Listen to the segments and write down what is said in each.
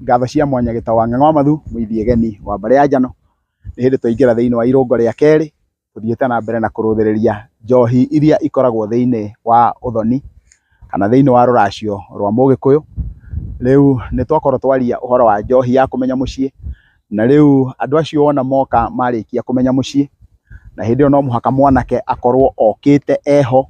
Ngatho cia mwanya gĩtaũ wa Ng'ang'a wa Mathu, mũithi Egeni wa mbarĩ ya Njano, nĩ hĩndĩ twaingĩra thĩinĩ wa irũngo rĩa kerĩ, tũthiĩte na mbere na kũrũthĩrĩria njohi iria ikoragwo thĩinĩ wa ũthoni, kana thĩinĩ wa rũracio rwa mũgĩkũyũ, rĩu nĩ twakorwo twaria ũhoro wa njohi ya kũmenya mũciĩ, na rĩu andũ acio wona moka marĩkia kũmenya mũciĩ, na hĩndĩ ĩyo no mũhaka mwanake akorwo okĩte eho.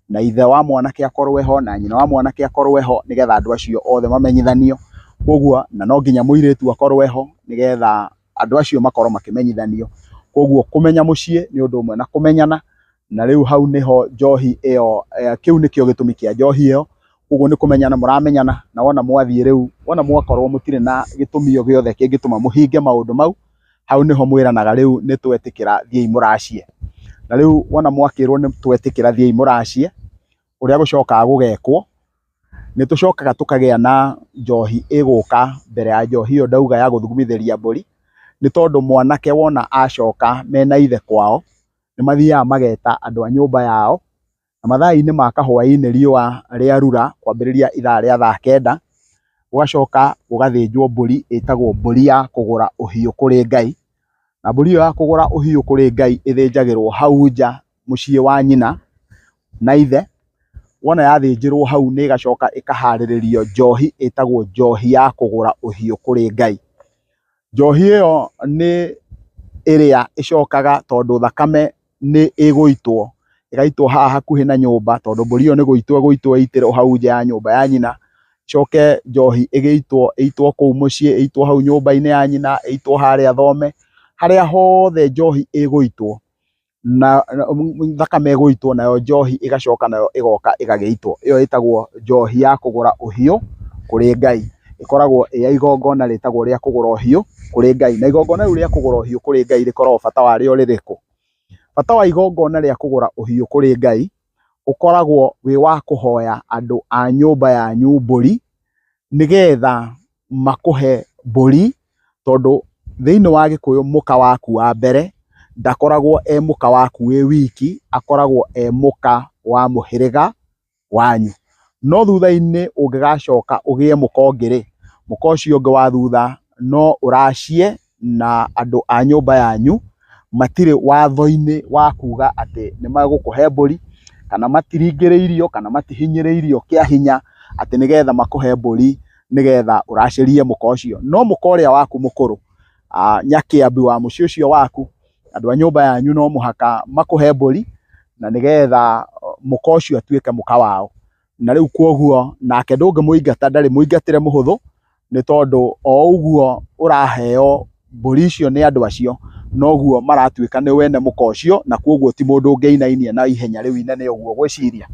na ithe wa mwanake akorwo ho na nyina wa mwanake akorwo ho nĩgetha andũ acio othe mamenyithanio. Koguo na no nginya mũirĩtu akorwo ho nĩgetha andũ acio makorwo makĩmenyithanio. Koguo kũmenya mũciĩ nĩ ũndũ ũmwe na kũmenyana na rĩu hau nĩho njohi ĩyo, kĩu nĩkĩo gĩtũmi kĩa njohi ĩyo. Ũguo nĩ kũmenyana mũramenyana na wona mwathiĩ rĩu, wona mwakorwo mũtirĩ na gĩtũmi o gĩothe kĩngĩtũma mũhinge maũndũ mau hau nĩho mwĩranaga rĩu nĩ twetĩkĩra thiĩi mũracie. Na rĩu wona mwakĩrwo nĩ twetĩkĩra thiĩi mũracie, ũrĩa gũcokaga gũgekwo, nĩ tũcokaga tũkagĩa na njohi ĩgũka mbere ya njohi ĩyo ndauga ya gũthugumithĩria mbũri, nĩ tondũ mwanake wona acoka mena ithe kwao, nĩ mathiaga mageta andũ a nyũmba yao, na mathaa-inĩ ma kahwainĩ riũa rĩarura kwambĩrĩria ithaa rĩa thaa kenda, gũgacoka gũgathĩnjwo mbũri ĩtagwo mbũri ya kũgũra ũhiũ kũrĩ Ngai, na mbũri ĩyo ya kũgũra ũhiũ kũrĩ Ngai ĩthĩnjagĩrwo hau nja mũciĩ wa nyina na ithe, wona yathĩnjĩrwo hau nĩ ĩgacoka ĩkaharĩrĩrio njohi ĩtagwo njohi ya kũgũra ũhiũ kũrĩ Ngai. Njohi ĩyo nĩ ĩrĩa ĩcokaga tondũ thakame nĩ ĩgũitwo, ĩgaitwo haha hakuhĩ na nyũmba tondũ mbũri ĩyo nĩ gũitwo ĩgũitwo ĩitĩrwo o hau nja ya nyũmba ya nyina, ĩcoke njohi ĩgĩitwo ĩitwo kũu mũciĩ, ĩitwo hau nyũmba-inĩ ya nyina, ĩitwo harĩa thome, harĩa hothe njohi ĩgũitwo na thakame ĩgũitwo nayo njohi ĩgacoka nayo ĩgoka ĩgagĩitwo, ĩyo ĩtagwo njohi ya kũgũra ũhiũ kũrĩ Ngai. ĩkoragwo ĩya igongona rĩtagwo rĩa kũgũra ũhiũ kũrĩ Ngai. Na igongona rĩu rĩa kũgũra ũhiũ kũrĩ Ngai rĩkoragwo bata warĩo rĩrĩkũ? Bata wa igongona rĩa kũgũra ũhiũ kũrĩ Ngai ũkoragwo wĩ wa kũhoya andũ a nyũmba yanyu mbũri, nĩgetha makũhe mbũri, tondũ thĩiniĩ wa Gĩkũyũ mũka waku wa mbere ndakoragwo e mũka waku wĩ wiki, akoragwo e mũka wa mũhĩrĩga. wanyu, no thutha-inĩ ũngĩgacoka ũgĩe mũka ũngĩ-rĩ, mũka ũcio ũngĩ wa thutha no ũracie na andũ a nyũmba yanyu matirĩ watho-inĩ wa kuga atĩ nĩ magũkũhe mbũri, kana matiringĩrĩirio, kana matihinyĩrĩirio kĩa hinya atĩ nĩgetha makũhe mbũri nĩgetha ũracĩrie mũka ũcio. No mũka ũrĩa waku mũkũrũ, Nyakĩambi wa mũciĩ ũcio waku, Andũ a nyũmba yanyu no mũhaka makũhe mbũri na nĩgetha mũka ũcio atuĩke mũka wao. Na rĩu kwoguo nake ndũngĩmũingata ndarĩ mũingatĩre mũhũthũ nĩ tondũ o ũguo ũraheo mbũri icio nĩ andũ acio noguo maratuĩka nĩwe ene mũka ũcio na kwoguo ti mũndũ ũngĩinainia na ihenya rĩu inene ũguo ũgwĩciria.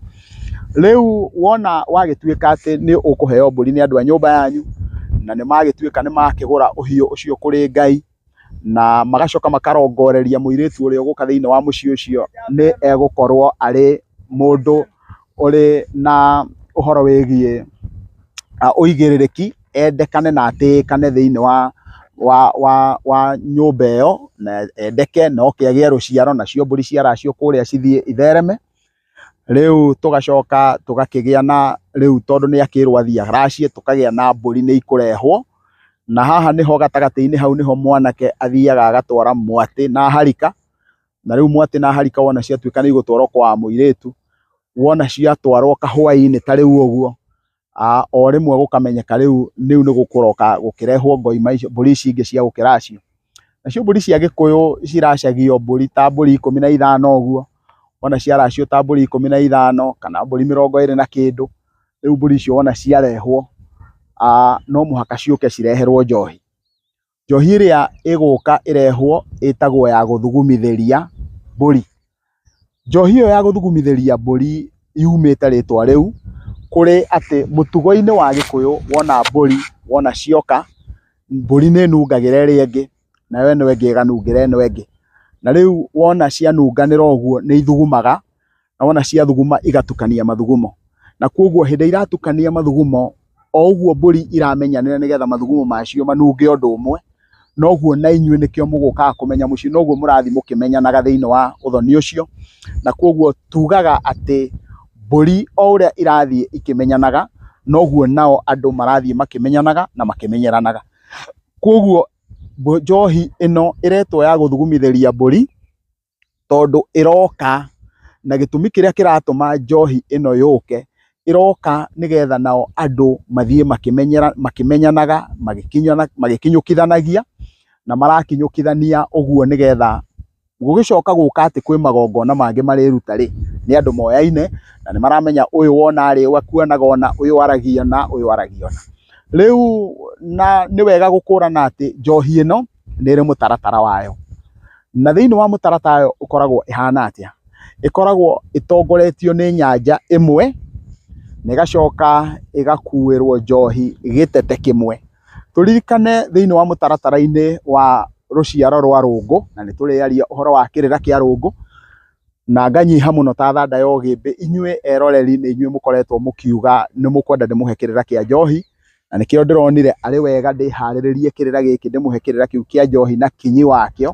Rĩu wona wagĩtuĩka atĩ nĩ ũkũheo mbũri nĩ andũ a nyũmba yanyu na nĩ magĩtuĩka nĩ makĩgũra ũhiũ ũcio kũrĩ Ngai, na magacoka makarongoreria mũirĩtu ũrĩa ũgũka thĩinĩ wa mũciĩ ũcio nĩ egũkorwo arĩ mũndũ ũrĩ na ũhoro wĩgiĩ ah, ũigĩrĩrĩki endekane na atĩĩkane thĩinĩ wa wa, wa, wa nyũmba ĩyo na endeke na oke agĩe rũciaro nacio mbũri ciaracio kũrĩa cithiĩ ithereme Rĩu tũgacoka tũgakĩgĩa na rĩu tondũ nĩ akĩrwo athiĩ aracie tũkagĩa na mbũri nĩ ikũrehwo, na haha nĩho gatagatĩ-inĩ hau nĩho mwanake athiaga agatwara mwatĩ na harika, na rĩu mwatĩ na harika wona ciatuĩka nĩ igũtwarwo kwa mũirĩtu, wona ciatwarwo kahwainĩ ta rĩu ũguo, o rĩmwe gũkamenyeka rĩu nĩu nĩ gũkũroka gũkĩrehwo ngoi mbũri ici ingĩ cia gũkĩracio. Nacio mbũri cia gĩkũyũ ciracagio mbũri ta mbũri ikũmi na ithano ũguo, wona ciaracio ta mbũri ikũmi na ithano kana mbũri mĩrongo ĩrĩ na kĩndũ, rĩu mbũri icio wona ciarehwo no mũhaka ciũke cireherwo njohi. Njohi ĩrĩa ĩgũka ĩrehwo ĩtagwo ya gũthugumithĩria mbũri. Njohi ĩyo ya gũthugumithĩria mbũri yumĩte rĩtwa rĩu kũrĩ atĩ mũtugo-inĩ wa gĩkũyũ wona mbũri wona cioka, mbũri nĩ ĩnungagĩra ĩrĩa ĩngĩ nayo ĩno ĩngĩ ĩganungĩra ĩno ĩngĩ. Na rĩu wona cianunganĩra ũguo nĩ ithugumaga na wona ciathuguma igatukania mathugumo, na koguo hĩndĩ ĩrĩa iratukania mathugumo o ũguo mbũri iramenyanĩra nĩgetha mathugumo macio manunge ũndũ ũmwe, noguo na inyuĩ nĩkĩo mũgũkaga kũmenya mũciĩ, noguo mũrathiĩ mũkĩmenyanaga thĩinĩ wa ũthoni ũcio, na koguo tugaga atĩ mbũri o ũrĩa irathiĩ ikĩmenyanaga, noguo nao andũ marathiĩ makĩmenyanaga na makĩmenyeranaga. Koguo njohi ĩno ĩretwo ya gũthugumithĩria mbũri tondũ ĩroka na gĩtũmi kĩrĩa kĩratũma njohi ĩno yũke ĩroka nĩgetha nao andũ mathiĩ makĩmenyanaga magĩkinyũkithanagia na marakinyũkithania ũguo nĩgetha gũgĩcoka gũka atĩ kwĩ magongona mangĩ marĩruta rĩ nĩ andũ moyaine na nĩ maramenya ũyũ wona rĩ akuonaga ũna, ũyũ aragia ũna, ũyũ aragia ũna. Rĩu na nĩ wega gũkũrana atĩ njohi ĩno... nĩ ĩrĩ mũtaratara wayo. Na thĩiniĩ wa mũtaratara wayo ĩkoragwo ĩhana atĩa? Ĩkoragwo ĩtongoretio nĩ nyanjara ĩmwe na ĩgacoka ĩgakuĩrwo njohi gĩtete kĩmwe. Tũririkane thĩiniĩ wa mũtaratara-inĩ wa rũciaro rwa rũngũ, na nĩ tũrĩaria ũhoro wa kĩrĩra kĩa rũngũ, na nganyiha mũno ta thanda ya ũgĩmbĩ, inyuĩ eroreri nĩ inyuĩ mũkoretwo mũkiuga nĩ mũkwenda ndĩmũhe kĩrĩra kĩa njohi, na nĩkĩo ndĩronire arĩ wega ndĩharĩrĩrie kĩrĩra gĩkĩ ndĩmũhe kĩrĩra kĩu kĩa njohi na kinyi wakĩo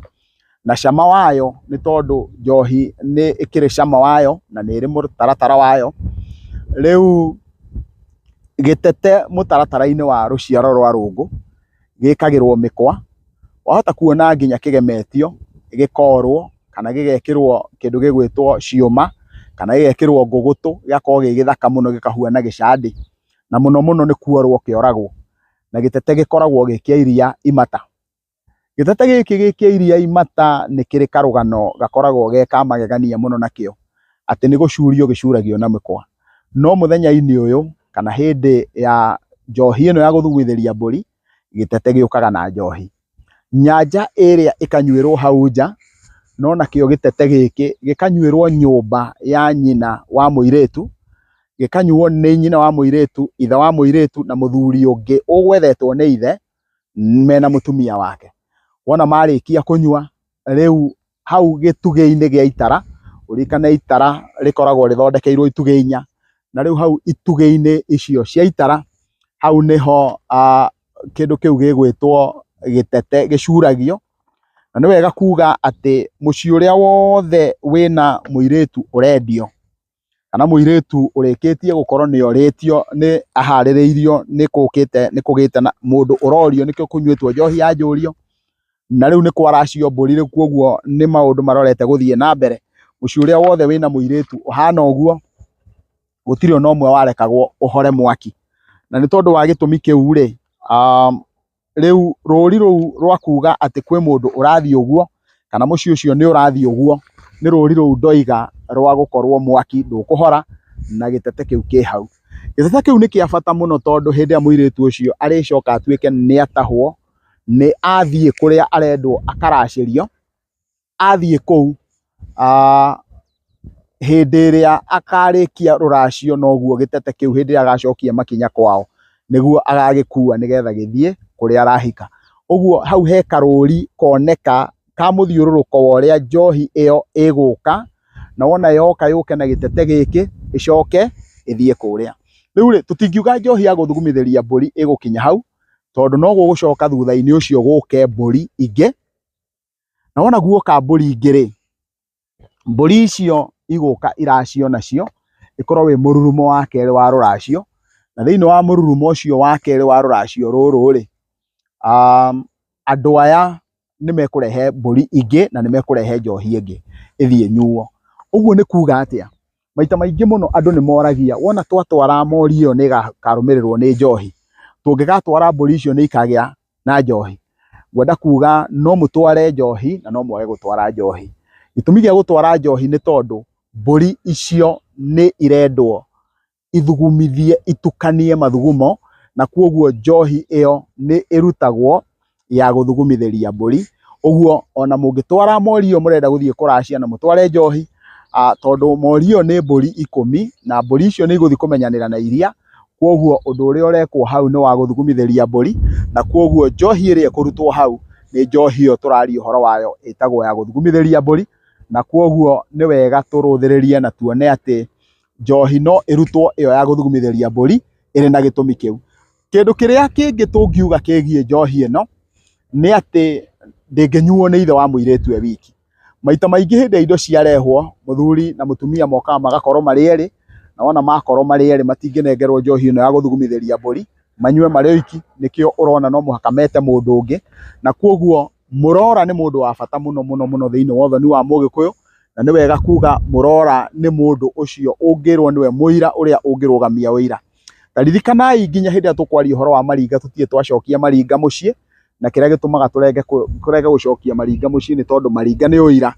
na cama wayo nĩ tondũ njohi nĩ ĩkĩrĩ cama wayo na nĩ ĩrĩ mũtaratara wayo. Rĩu gĩtete mũtaratara-inĩ wa rũciaro rwa rũngũ gĩkagĩrwo mĩkwa, wahota kuona nginya kĩgemetio gĩkorwo kana gĩgekĩrwo kĩndũ gĩgwĩtwo ciũma kana gĩgekĩrwo ngũgũtũ gĩgakorwo gĩ gĩthaka mũno gĩkahuana gĩcandĩ. na mũno mũno nĩ kuorwo kĩoragwo na gĩtete gĩkoragwo gĩ kĩa iria imata. Gĩtete gĩkĩ gĩ kĩa iria imata nĩ kĩrĩ karũgano gakoragwo ge ka magegania mũno nakĩo, atĩ nĩ gũcurio gĩcuragio na mĩkwa. No mũthenya-inĩ ũyũ kana hĩndĩ ya njohi ĩno ya gũthugundhĩria mbũri, gĩtete gĩũkaga na njohi, nyanja ĩrĩa ĩkanyuĩrwo hau nja, no nakĩo gĩtete gĩkĩ gĩkanyuĩrwo nyũmba ya nyina wa mũirĩtu, gĩkanyuo nĩ nyina wa mũirĩtu, ithe wa mũirĩtu na mũthuri ũngĩ ũgwethetwo nĩ ithe mena mũtumia wake. Wona marĩkia kũnyua rĩu hau gĩtugĩ-inĩ gĩa itara, ũririkane itara rĩkoragwo rĩthondekeirwo itugĩ inya, na rĩu hau itugĩ-inĩ icio cia itara, hau nĩho kĩndũ kĩu gĩgwĩtwo gĩtete gĩcuragio, na nĩ wega kuga atĩ mũciĩ ũrĩa wothe wĩna mũirĩtu ũrendio. kana mũirĩtu ũrĩkĩtie gũkorwo nĩ orĩtio nĩ aharĩrĩirio nĩ kũkĩte nĩ kũgĩte na mũndũ ũrorio nĩkĩo kũnyuĩtwo njohi ya njũrio, na rĩu nĩ kwaracio mbũri rĩu kuoguo nĩ maũndũ marorete gũthiĩ na mbere. Mũciĩ ũrĩa wothe wĩna mũirĩtu ũhana ũguo, gũtirĩ ona ũmwe warekagwo ũhore mwaki. Na nĩ tondũ wa gĩtũmi kĩu-rĩ rĩu rũri rũu rwa kuga atĩ kwĩ mũndũ ũrathiĩ ũguo kana mũciĩ ũcio nĩ ũrathiĩ ũguo nĩ rũri rũu ndoiga rwa gũkorwo mwaki ndũkũhora na gĩtete kĩu kĩ hau. Gĩtete kĩu nĩ kĩa bata mũno tondũ hĩndĩ ĩrĩa mũirĩtu ũcio arĩcoka atuĩke nĩ atahwo nĩ athiĩ kũrĩa arendwo akaracĩrio athiĩ kũu hĩndĩ ĩrĩa akarĩkia rũracio noguo gĩtete kĩu hĩndĩ ĩrĩa agacokia makinya kwao nĩguo agagĩkua nĩgetha gĩthiĩ kũrĩa arahika. Ũguo hau he karũri koneka ka mũthiũrũrũko wa ũrĩa njohi ĩyo ĩgũka na wona yoka yũke na gĩtete gĩkĩ ĩcoke ĩthiĩ kũrĩa. Rĩu rĩ tũtingiuga njohi ya gũthugumithĩria mbũri ĩgũkinya hau tondũ no gũgũcoka thutha-inĩ ũcio gũke mbũri ingĩ na wona guoka mbũri ingĩ-rĩ, mbũri icio igũka iracio nacio, ĩkorwo wĩ mũrurumo wa kerĩ wa rũracio, na thĩiniĩ wa mũrurumo ũcio wa kerĩ wa rũracio rũrũ-rĩ, andũ aya nĩmekũrehe mbũri ingĩ na nĩmekũrehe njohi ĩngĩ ĩthiĩ ĩnyuo. Ũguo nĩ kuga atĩa? maita maingĩ mũno andũ nĩ moragia wona twatwara mori ĩyo nĩ ĩkarũmĩrĩrwo nĩ njohi, tũngĩgatwara mbũri icio nĩ ikagĩa na njohi, ngwenda kuga no mũtware njohi na no mwage gũtwara njohi. Gĩtũmi gĩa gũtwara njohi nĩ tondũ mbũri icio nĩ irendwo ithugumithie itukanie mathugumo na kwoguo njohi ĩyo nĩ ĩrutagwo ya gũthugumithĩria mbũri, ũguo ona mũngĩtwara mori ĩyo mũrenda gũthiĩ kũracia na mũtware njohi, tondũ mori ĩyo nĩ mbũri ikũmi na mbũri icio nĩ igũthiĩ kũmenyanĩra na iria, kũguo ũndũ ũrĩa ũrekwo hau nĩ wa gũthugumithĩria mbũri, na kũguo njohi ĩrĩa ĩkũrutwo hau nĩ njohi ĩyo tũraria ũhoro wayo ĩtagwo ya gũthugumithĩria mbũri, na kũguo nĩ wega tũrũthĩrĩrie na tuone atĩ njohi no ĩrutwo ĩyo ya gũthugumithĩria mbũri ĩrĩ na gĩtũmi kĩu. Kĩndũ kĩrĩa kĩngĩ tũngiuga kĩgiĩ njohi ĩno, nĩ atĩ ndĩngĩnyuo nĩ ithe wa mũirĩtu e wiki. Maita maingĩ hĩndĩ ĩrĩa indo ciarehwo, mũthuri na mũtumia mokaga magakorwo marĩ erĩ, na wona makorwo marĩ erĩ matingĩnengerwo njohi ĩno ya gũthugumithĩria mbũri, manyue marĩ oiki, nĩkĩo ũrona no mũhaka mete mũndũ ũngĩ, na kuoguo mũrora nĩ mũndũ wa bata mũno mũno mũno thĩiniĩ wa ũthoni wa mũgĩkũyũ, na nĩ wega kuga mũrora nĩ mũndũ ũcio ũngĩrwo nĩwe mũira ũrĩa ũngĩrũgamia ũira. Na ririkanai nginya hĩndĩ ĩrĩa tũkwaria ũhoro wa maringa tũtirĩ twacokia maringa mũciĩ, na kĩrĩa gĩtũmaga tũrenge tũrege gũcokia maringa mũciĩ nĩ tondũ maringa nĩ ũira,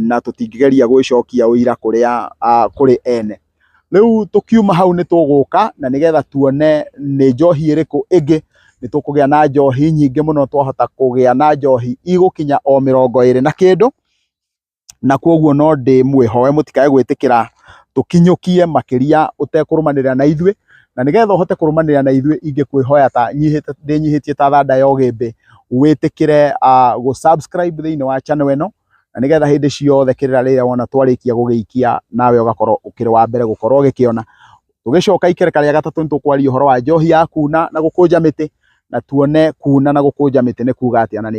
na tũtingĩgeria gwĩcokia ũira kũrĩa kũrĩ ene. Rĩu tũkiuma hau nĩ tũgũka na nĩgetha tuone nĩ njohi ĩrĩkũ ĩngĩ, nĩ tũkũgĩa na njohi nyingĩ mũno twahota kũgĩa na njohi igũkinya o mĩrongo ĩrĩ na kĩndũ, na kwoguo no ndĩmwĩhoe mũtikae gwĩtĩkĩra tũkinyũkie makĩria ũtekũrũmanĩrĩra na ithuĩ, na nĩgetha ũhote kũrũmanĩrĩra na ithuĩ ingĩkwĩhoya ta nyihĩte ndĩnyihĩtie ta thanda ya ũgĩmbĩ, wĩtĩkĩre gũ subscribe thĩiniĩ wa channel ĩno, na nĩgetha hĩndĩ ciothe kĩrĩra rĩrĩa wona twarĩkia gũgĩikia nawe ũgakorwo ũkĩrĩ wa mbere gũkorwo ũgĩkĩona. Tũgĩcoka ikereka rĩa gatatũ nĩ tũkwaria ũhoro wa njohi ya kuuna na gũkũnja mĩtĩ, na tuone kuuna na gũkũnja mĩtĩ nĩ kuuga atĩa na nĩ...